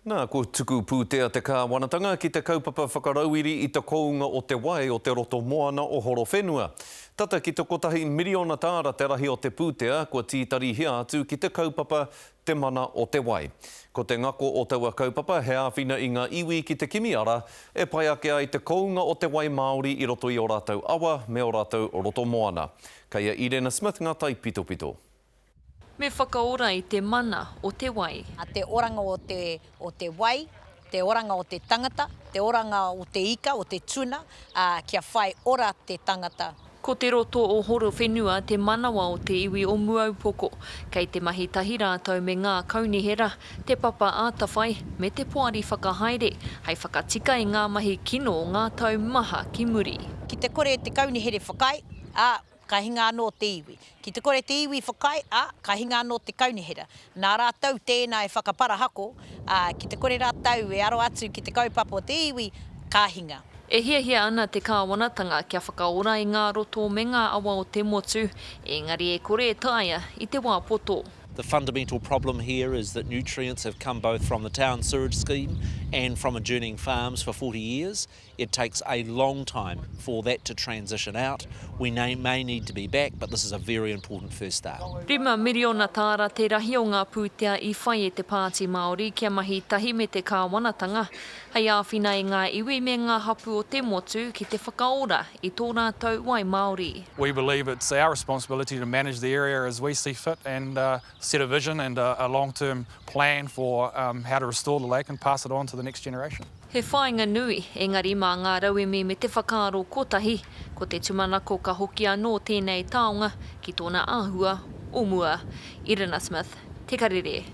Nā, kua tuku pūtea te Kāwanatanga ki te kaupapa whakarauiri i te kounga o te wai o te roto moana o Horowhenua. Tata ki te kotahi miriona tāra te rahi o te pūtea kua tītarihia atu ki te kaupapa Te Mana o te Wai. Ko te ngako o taua kaupapa he āwhina i ngā iwi ki te kimi ara e pai ake ai te kounga o te wai māori i roto i ō rātou awa me ō rātou roto moana. Kei a Irena Smith ngā taipitopito. Me whakaora i te mana o te wai. Te oranga o te, o te wai, te oranga o te tangata, te oranga o te ika, o te tuna, ā, kia whai ora te tangata. Ko te roto o Horowhenua te manawa o te iwi o Muaupoko. Kei te mahi tahi rātou me ngā kaunihera, Te Papa Atawhai, me Te Poari Whakahaere, hei whakatika i ngā mahi kino o ngā tau maha ki muri. Ki te kore te kaunihere whakaae, ā, ka hinga anō te iwi. Ki te kore te iwi whakaae, ā, ka hinga anō te kaunihera. Nā rātou tēnā e whakaparahako, ā, ki te kore rātou e aro atu ki te kaupapa o te iwi, ka hinga. E hiahia ana te Kāwanatanga kia whakaora i ngā roto me ngā awa o te motu, ēngari e kore e taea i te wā poto. The fundamental problem here is that nutrients have come both from the town sewage scheme and from adjourning farms for 40 years. It takes a long time for that to transition out. We may need to be back, but this is a very important first start. Rima miriona tāra te rahi o ngā pūtea i whai e te Pāti Māori kia mahi tahi me te kāwanatanga, hei āwhina e ngā iwi me ngā hapū o te motu ki te whakaora i tō rātou wai māori. We believe it's our responsibility to manage the area as we see fit and set a vision and a long term plan for how to restore the lake and pass it on to the next generation. He whāinga nui, engari mā ngā rauemi me te whakaaro kotahi, ko te tumanako ka hoki anō tēnei taonga ki tōna āhua o mua. Irina Smith, Te Karere.